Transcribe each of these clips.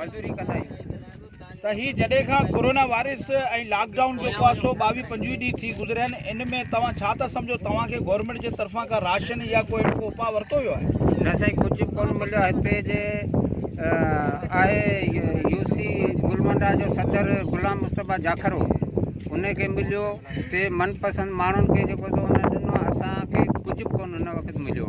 مزدوري ڪندا آهيون ته هي جڏهن کان ڪورونا وائرس ۽ لاڪ ڊائون جيڪو آ سو ٻاويهه پنجويهه ڏينهن ٿي گذريا آهن ان ۾ توهان ڇا ٿا سمجهو توهان کي گورنمينٽ جي طرفان ڪا راشن يا ڪو اهڙو اپاء ورتو ويو آهي نه سائين ڪجهه ڪون مليو آهي هتي جي آهي يو سي گلمنڊا جو صدر غلام مصطفيٰ جاکرو ان کي مليو ته من پسند ماڻهن کي جيڪو ڏنو اسان کي ڪجهه ڪون هن وقت مليو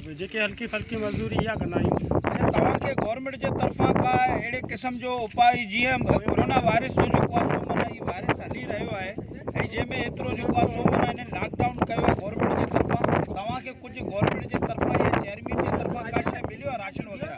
جيڪي هلڪي ڦلڪي مزدوري اها ڪندا آهيون. ۽ توهان کي گورنمينٽ جي طرفان ڪا اهڙي قسم جو اپاء جيئن ڪورونا وائرس جو جيڪو آهي سو معنيٰ هي وائرس هلي رهيو آهي ۽ جنهن ۾ ايترو جيڪو آهي سو معنيٰ هنن لاڪ ڊائون ڪيو آهي گورنمينٽ جي طرفان توهان کي ڪجهه گورنمينٽ جي طرفان يا چيئرمين جي طرفان ڪا شيء مليو آهي راشن وغيره.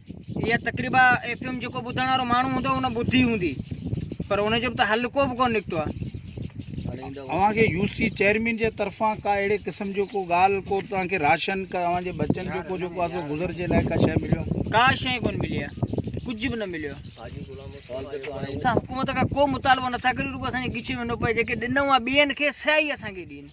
اها تقريبا ايف ايم جيڪو ٻڌڻ وارو ماڻهو هوندو ان ٻڌي هوندي پر ان جو به ته حل ڪو به ڪو نڪتو آهي اوهان کي يو سي چيئرمين جي طرفان ڪا اهڙي قسم جو ڪو ڳالهه ڪو توهان کي راشن ڪا اوهان جي بچن جو ڪو جيڪو آسو گذر جي لاء ڪا شيء مليو ڪا شيء ڪون ملي آهي ڪجهه به نه مليو حڪومت کان ڪو مطالبو نٿا ڪريون رڳو اسان جي ڳچيء ۾ نو پئي جيڪي ڏنو آهي ٻين کي سيائي اسان کي ڏين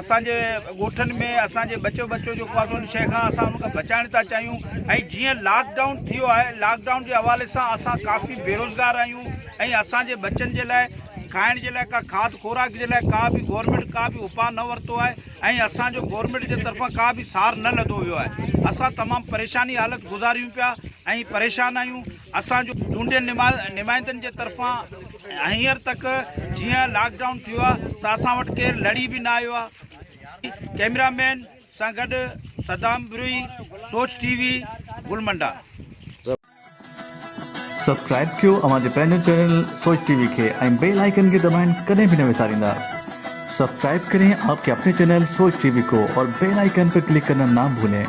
اسان جي ڳوٺن ۾ اسان جي ٻچو ٻچو جيڪو آهي ان شيء کان اسان ان کي بچائڻ ٿا چاهيون ۽ جيئن لاڪ ڊائون ٿيو آهي لاڪ ڊائون جي حوالي سان اسان ڪافي بيروزگار آهيون ۽ اسان جي ٻچن جي لاء کائڻ جي لاء ڪا کاڌ خوراڪ جي لاء ڪا به گورنمينٽ ڪا به اپاء نه ورتو آهي ۽ اسان جو گورنمينٽ جي طرفان ڪا به سار نه لڌو ويو آهي اسان تمام پريشاني حالت گذاريون پيا ۽ پريشان آهيون اسان جو چونڊيل نمائندن جي طرفان هينئر تڪ جيئن لاڪ ڊائون ٿيو آهي ته اسان وٽ ڪير لڙي به نه آيو آهي ڪيمرا مين سان گڏ صدام بروهي سوچ ٽي وي گل منڊا. سبسڪرائب ڪيو اوهان جي پنهنجي چينل سوچ ٽي وي کي ۽ بيل آئيڪن کي دٻائڻ ڪڏهن به نه وساريندا سبسڪرائب ڪرين آپ ڪي اپني چينل سوچ ٽي وي ڪو اور بيل آئيڪن پر ڪلڪ ڪرنا نا ڀولين.